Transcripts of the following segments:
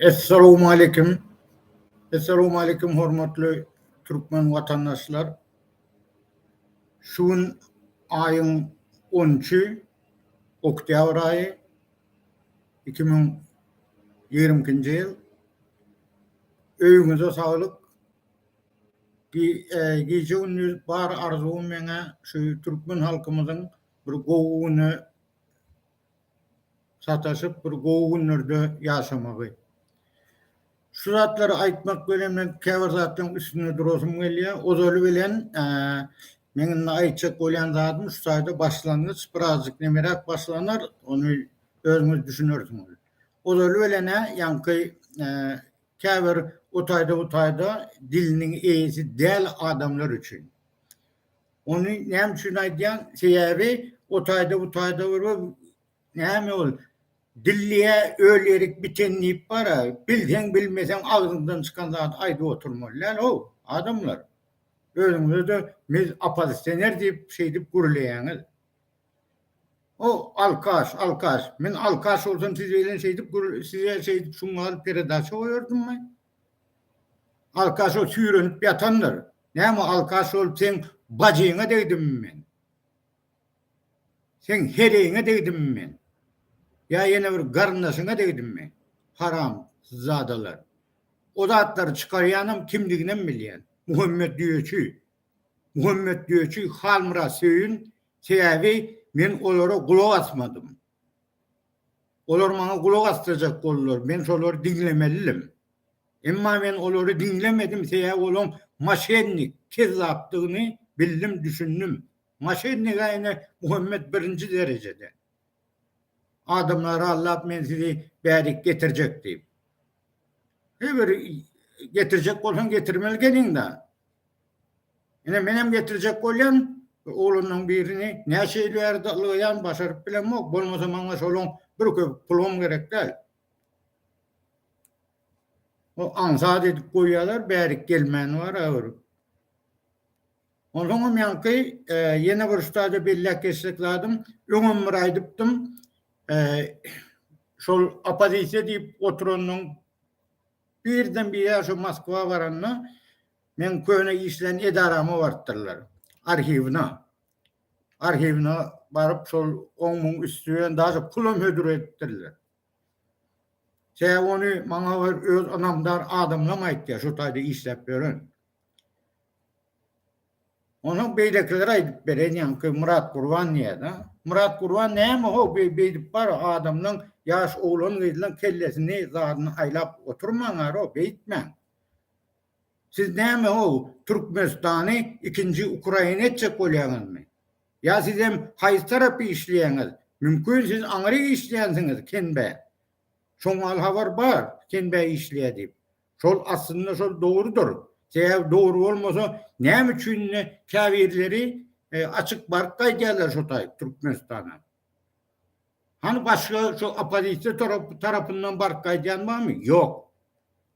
Essalamu aleýkum. Essalamu aleýkum hormatly türkmen watandaşlar. Şu gün aýyň 13-i, oktýabr aýy, 2022-nji ýyl. Öýüňize saglyk. Gije-gündiz bar arzuwym meňä şu türkmen halkymyzyň bir gowy güne sataşyp bir gowy günlerde ýaşamagy. Şu zatlary aýtmak bilen men käbir zatlaryň üstünde durasym gelýär. Ozaly bilen men indi aýtjak bolýan zadym şu taýda başlangyç birazjyk nemeräk başlanar, ony özüňiz düşünersiňiz. Ozaly bilen ýaňky käbir o taýda bu taýda diliniň eýesi däl adamlar üçin. Ony näme üçin aýdýan? Sebäbi o taýda bu taýda görüp näme ol dilliye öl erik biten diýip bara bilseň bilmeseň agzyňdan çykan zady aýdyp oturmaly däl how adamlar. Özüňizede biz opozisioner diýip şeýdip gürleýäňiz. O alkaş alkaş men alkaş bolsam siz bilen şeýdip size şeýdip şuňňal peredaça goýardymmy? Alkaş ol süýrenip ýatandyr. Näme alkaş ol seň bajyňa degdimmi men? Seň heleýiňe degdimmi men? Ýa ýene bir garyndaşyňa degdimmi? Haram zadalar. O zatlary çykarýanam kimdiginem bilýän. Muhammet Düýeçi. Muhammet Düýeçi Halmyrat Söýün sebäbi men olara gulak asmadym. Olar maňa gulak asdyrjak boldular, men şolary diňlemelidim. Emma men olary diňlemedim, sebäbi olaň moşennik, kezzapdygyny bildim, düşündim. Moşennik-ä ine Muhammet birinji derejede. Adamlary aldap men sizi bärik getirjek diýip. He bir getirjek bolsaň getirmeli geliň-dä. Ine menem getirjek bolýan oglanlaň birini näçe ýyl bärde ylgaýan başaryp bilemok bolmasa maňa şoluň bir köpük pulum gerek däl. O aňsat edip goýýalar bärik gelmäni bar agyr. Onsoňam ýaňky ýene bir ustada belläp geçsek zadym öňem bir aýdypdym şol opozisiýa diýip oturanyň birden bire şu Moskwa baranda Meň köne işlän edarama barypdyrlar. Arhiwine. Arhiwine baryp şol on müň üsti bilen daža pulam hödür edipdirler. Sebäbi ony maňa bir öz ynamdar adamlam aýtýar şu taýda işläp ýören. Onuň beýlekiler aýdyp beren ýaňky Myrat Gurban diýýärdi. Myrat Gurban näme ho beý beýdip bar adamlaň ýaş oglan gyzlaň kellesini zadyny aýlap oturmaň aro beýtmäň. Siz näme o Türkmenistany ikinji Ukraina etjek bolýaňyzmy? Ýa sizem haýsy tarapy işleýäňiz? Mümkin siz aňry işleýänsiňiz Kenbä. Şoňal habar bar Kenbä işleýä diýip. Şol aslynda şol dogrudyr. Sebäbi dogry bolmasa näme üçin indi käbirleri açyk baryp gaýdýarlar şo taýyp Türkmenistana. Hany başga şu oppozisiýa tarapyndan baryp gaýdýan barmy? Ýok.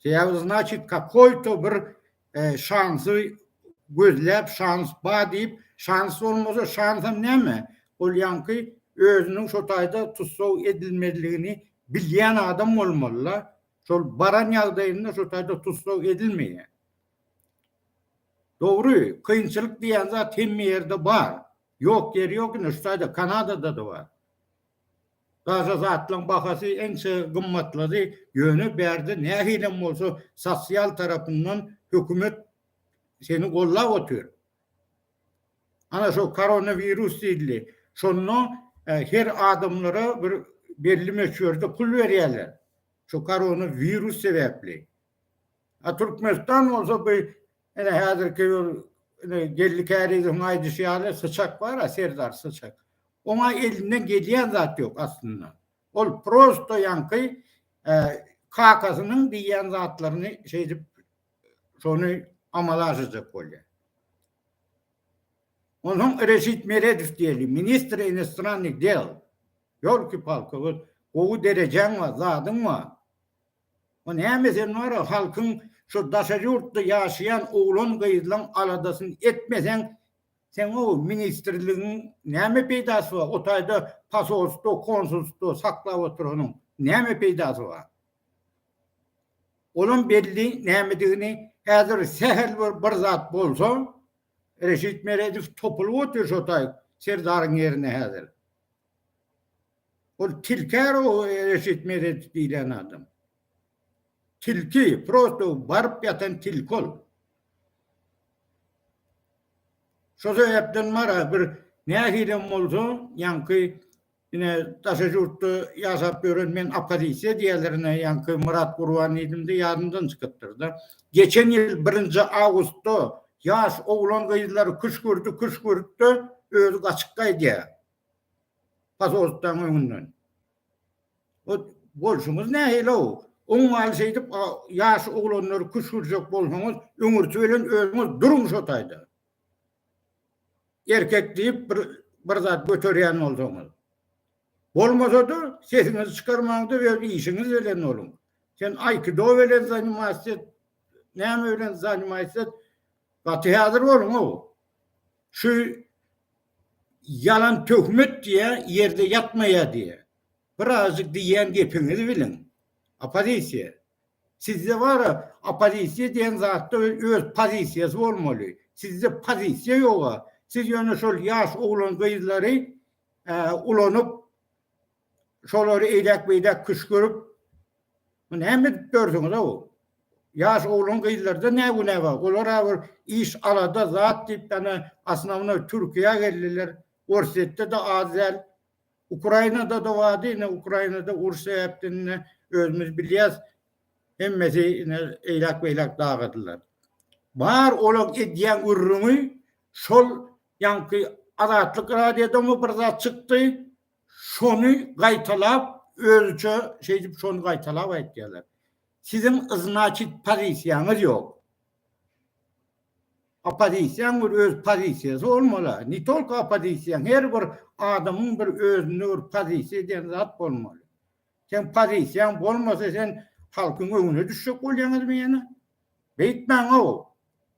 Sebäbi znaçit kakoýto bir e, şansy gözläp şans ba diýip, şans bolmasa şansam näme? Ol ýaňky özüniň şo taýda tussag edilmezligini bilýän adam bolmaly-la. Şol baran ýagdaýynda şo taýda tussag edilmeýär. Dogry, kynçylyk diýen zat hemme ýerde bar. Ýok ýeri ýok indi şu taýda kanadadada bar. Taze zatlaň bahasy ençe gymmatlady ýöne bärde nähilem bolsa sosial tarapyndan hökümet seni gollap otyr. Ana şo koronawirus diýildi. Şonda her adamlara bir belli möçberde pul berýärler. Şo koronawirus sebäpli. A Türkmenistan bolsa bu ine häzirki bir ine Geldi Kärizowyň aýdyşy ýaly syçak bar-a, Serdar syçak. Oňa elinden gelýän zat ýok aslynda. Ol prosto ýaňky kakasynyň diýýän zatlaryny şeýdip şony amala aşyrjak bolýar. Onuň Reşit Meredow diýeli ministr inostrannyh del. Ýolki-palki gowy derejäň bar, zadyň bar. O näme sen wara halkyň şu daşary ýurtda ýaşaýan oglan gyzlaň aladasyn etmeseň seň o ministrligiň näme peýdasy bar o taýda pasolstwo konsulstwo saklap oturanyň näme peýdasy bar olam belli nämedigini häzir sähel bir bir zat bolsa Reşit Meredow topulyp otyr şo taý serdaryň ýerine häzir. Ol tilkär o Reşit Meredow diýlen adam. Tilki, prosto baryp ýatan tilki ol. Şo sebäpden mara bir nähilem bolsa, ýaňky ine daşary ýurtda ýaşap ýören men oppozisiýa diýerler ine ýaňky Myrat Gurban diýdimde ýadymdan çykypdyrda. Geçen ýyl birinji awgustda ýaş oglan-gyzlary küşgürdi küşgürtde özi gaçyp gaýdýar. Pasolstwaň öňünden. O bolşuňyz nähili-ow? Oňňaly şeýdip ýaş oglanlary küşgürjek bolsaňyz, öňürti bilen özüňiz duruň şo taýda. Erkek diýip bir bir zat göterýän bolsaňyz. Bolmasa-da, sesiňizi çykarmaň-da öz işiňiz bilen boluň. Sen aýkido bilen zanymas et, näme bilen zanymas et, gaty häzir boluň-ow. Şu Ýalan töhmet diýýä ýerde ýatmaýa diýýä. Birazjyk diýýän gepiňizi biliň. Oppozisiýa. Sizde bara oppozisiýa diýen zatda öz pozisiýasy bolmaly. Sizde pozisiýa ýoga. Siz ýöne şol ýaş oglan gyzlary ulanyp şolary eýdäk-beýdäk küşgürip, bu näme edip ýörsüňiz-ow? Ýaş oglan-gyzlarda ne günä bar? Olar-a bir iş, alada, zat diýip, ýa-da osnownoý Türkiýä geldiler. Orsýetde-de az däl. Ukrainada-da bardy, ine, Ukrainada uruş sebäpden ine, özümiz bilýäs, hemmesi ine, eýdäk-beýdäk dagydylar. Bar olaň edýän gürrüňi şol ýaňky Azatlyk radiodamy bir zat çykdy, Şony gaýtalap özüçe şeýdip şony gaýtalap aýtýarlar. Siziň yznaçit pozisiýaňyz ýok. Opozisiýaň bir öz pozisiýasy bolmaly. Ne tolko opozisiýaň her bir adamyň bir özüne bir pozisiýa diýen zat bolmaly. Sen pozisiýaň bolmasa sen halkyň öňüne düşjek bolýaňyzmy ýene? Beýtmäň-ow.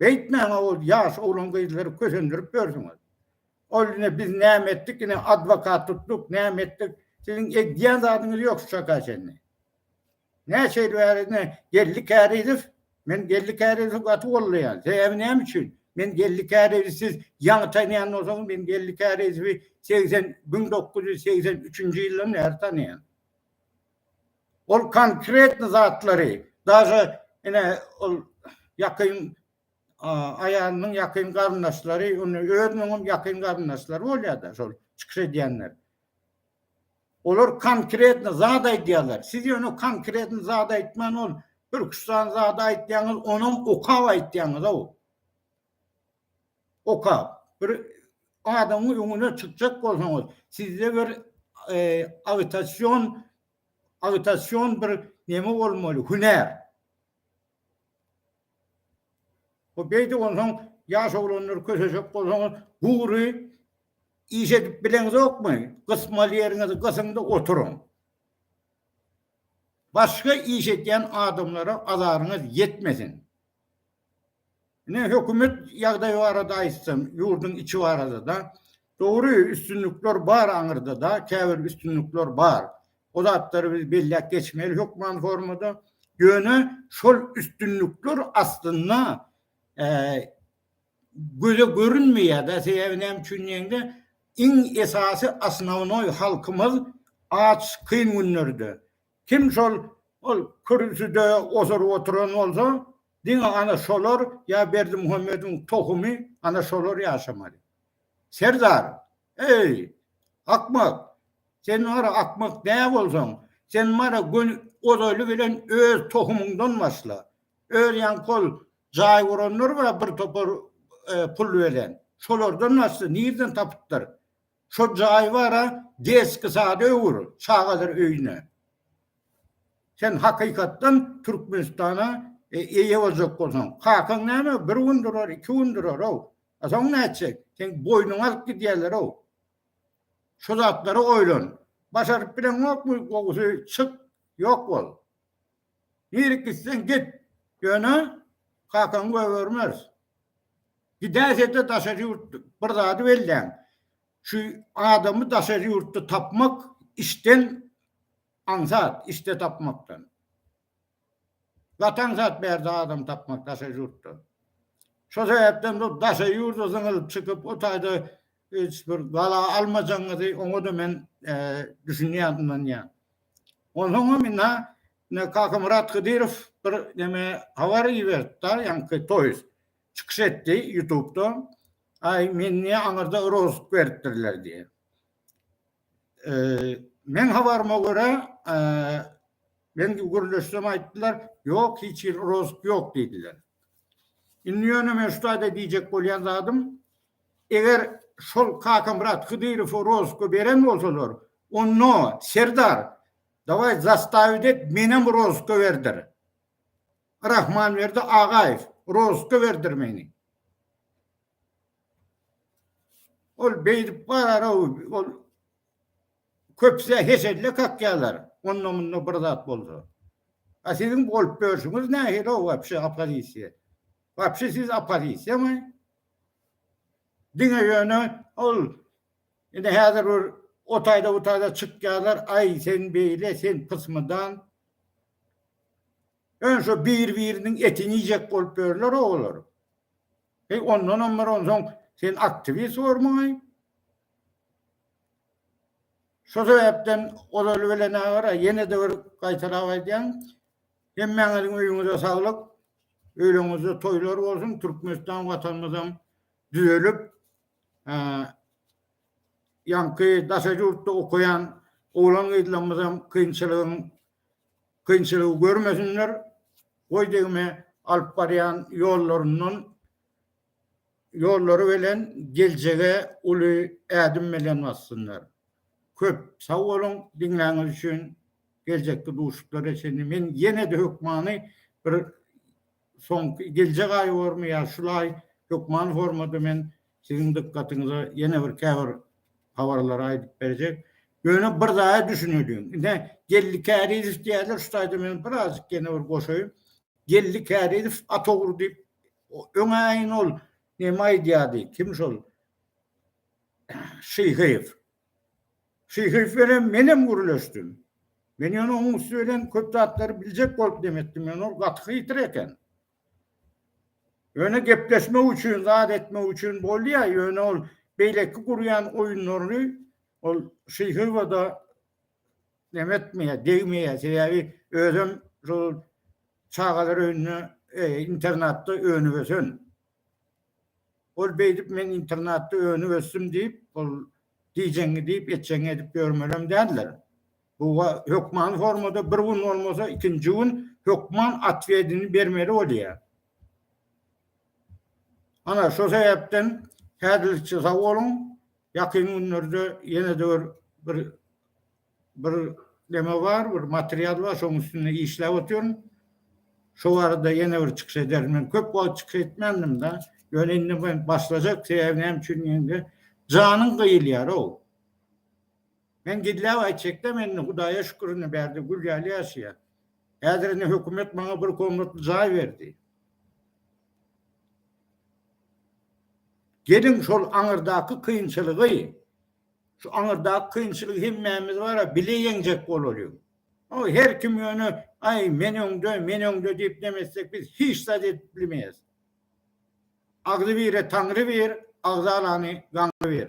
Beýtmäň-ow, ýaş oglan gyzlary kösendirip ýörsüňiz. Ol ine biz näme etdik ine adwokat tutduk näme etdik siziň edýän zadyňyz ýok şu çaka çenli. Näçe ýyl bäri ine Geldi Kärizow men Geldi Kärizowy gaty goldaýan sebäbi näme üçin men Geldi Kärizowy siz ýaňy tanýan bolsaňyz men Geldi Kärizowy segsen müň dokuz ýüz segsen üçünji ýyldan bäri tanýan. Ol konkretny zatlary daže ine ol ýakyn aýalynyň ýakyn garyndaşlary, indi özüniň hem ýakyn garyndaşlary bolýar-da şol çykyş edýänler. Olar konkretno zat aýdýarlar. Siz ýöne konkretno zat aýtman ol bir iki sany zady aýtýaňyz, onuň okap aýtýaňyz-ow. Okap. Bir adamyň öňüne çykjak bolsaňyz, sizde bir e, agitasion agitasion bir neme bolmaly, hünär. Bu beýdip onsoň ýaş oglanlar köşeşek bolsaňyz gury iş edip bileňizokmy? Gysmaly ýeriňizi gysyň-da oturyň. Başga iş edýän adamlara azaryňyz ýetmesin. Ine, hökümet ýagdaýy barada aýtsam, ýurduň içi barada-da, dogry, üstünlikler bar aňyrda-da, käbir üstünlikler bar. O zatlary biz belläp geçmeli hökman formada. Ýöne şol üstünlikler aslynda göze görünmeýär-de, sebäbi näme üçin diýende, iň esasy, osnownoý, halkymyz aç, kyn günlerde, Kim şol ol kürsüde oturyp oturan bolsa, diňe ana şolar ýa Berdimuhamediň tohumy ana şolar ýaşamaly. Serdar, eý, akmak, sen wara akmak dä bolsaň, sen wara göni ozaly bilen öz tohumyňdan başla. Öz ýaňky ol jaý guranlar bar bir topar pul bilen. Şolardan başla, nirden tapypdyr? Şo jaý bara deski sada öwür çagalar öýüne. Sen hakykatdan Türkmenistana eýe boljak bolsaň. Kakaň näme bir gün durar, iki gün durarow. A soň nätjek? Seň boýnuňy alyp gidýärlerow. Şu zatlary oýlan. Başaryp bileňokmy, gowusy çyk, ýok bol. Diri gitseň git, ýöne kakaňy goýbermeris. Gidäýse-de daşary ýurtda bir zady belläň, şu adamy daşary ýurtda tapmak işden aňsat, işde tapmakdan. Gaty aňsat bärde adam tapmak daşary ýurtda. Şo sebäpden bu daşary ýurda zyňylyp çykyp, o taýda Hiç bir bala almajaňyzy oňa-da men düşünýän, ynanýan. Onsoňam indi ne Kakamyrat Hydyrow bir neme habar iberdi-da, ýaňky toýuz çykyş etdi ýutubda. Aý, men niýe aňyrda rozg beripdirler diýen. Meň habaryma görä, men gürleşsem aýtdylar, ýok, hiç hili rozg ýok diýdiler. Indi ýöne men şu taýda diýjek bolýan zadym, Eger şol Kakamyrat Hydyrowy rozga beren bolsalar, onda, serdar, dawaý zastawiýt et, menem rozga berdir. Rahmanberdi Agaýew, rozga berdir meni. Ol beýdip barar-ow, ol köpüsi hesedle kakýarlar, onda-munda bir zat bolsa. A siziň bolup ýörşüňiz nähili-ow wapşe oppozisiýa? Wapşe siz oppozisiýamy? Diňe ýöne ol indi häzir bir o taýda bu taýda çykýarlar, aý sen beýle, sen pysmydan. Ýöne şo bir-biriniň etini iýjek bolup ýörler olar. Heý ondanam bir onsoň sen aktiwist bormuňaý? Şo sebäpden ozaly bilenä gara, ýene-de bir gaýtalap aýdýan, Hemmäňiziň öýüňize saglyk, öýleriňizde toýlar bolsun, Türkmenistan watanymyzam düzelip, ýaňky daşary ýurtda okaýan oglan-gyzlarymyzam kynçylygyň kynçylygy görmesinler, goý degme alyp barýan ýollaryndan ýollary bilen geljege uly ädim bilen bassynlar. Köp sag boluň diňläniz üçin geljekki duşuplara çenli men ýenede hökmany bir soňky geljek aýy bormy ýa şul aý hökmany formada men siziň dykgatyňyza ýene bir käbir habarlary aýdyp berjek ýöne bir zada düşüneliň ine geldi kärizow diýýärler şu taýda men birazjyk ýene bir goşaýyn geldi kärizow at ogry diýip O öňaýyn ol neme aýdýardy, kim şol Şyhyýew. Şyhyýew bilen menem gürleşdim. Men ýöne onuň üsti bilen köp zatlary biljek bolup neme etdim, ýöne ol gaty hytry eken. Ýöne gepleşmek üçin, zat etmek üçin bolýar, ýöne ol beýleki gurýan oýunlaryny ol Şyhyýewe-de Näme etmeýär, degmeýär. Sebäbi özem şol çagalar öýünde, internatda önüp-ösen. Ol beýdip men internatda önüp-ösdüm diýip, ol diýjeňňi diýip, etjeňňi edip ýörmelem däldir. Bu hökman formada bir gün bolmasa, ikinji gün hökman atwedini bermeli bolýar. Ana, şo sebäpden häzirlikçe sag boluň. Ýakyn günlerde ýene-de bir bir bir neme bar, bir material bar, şonuň üstünde işläp otyryn. Şo barada ýene bir çykyş ederin. Men köp wagt çykyş etmändim-de, ýöne indi men başlajak, sebäbi näme üçin diýende, janyň gyýylýar-ow. Men gizläp aýtjak-da, men indi Hudaýa şükür, indi bärde gül ýaly ýaşaýan. Häzir indi hökümet maňa bir komnatly jaý berdi. Geliň şol aňyrdaky kynçylygy, şu aňyrdaky kynçylygy hemmämiz bara bile ýeňjek bolalyň. O her kim ýöne aý men öňde, men öňde diýip neme etsek biz hiç zat edip bilmeýäs. Agzybire Taňry bir, agzalany gaňry bir.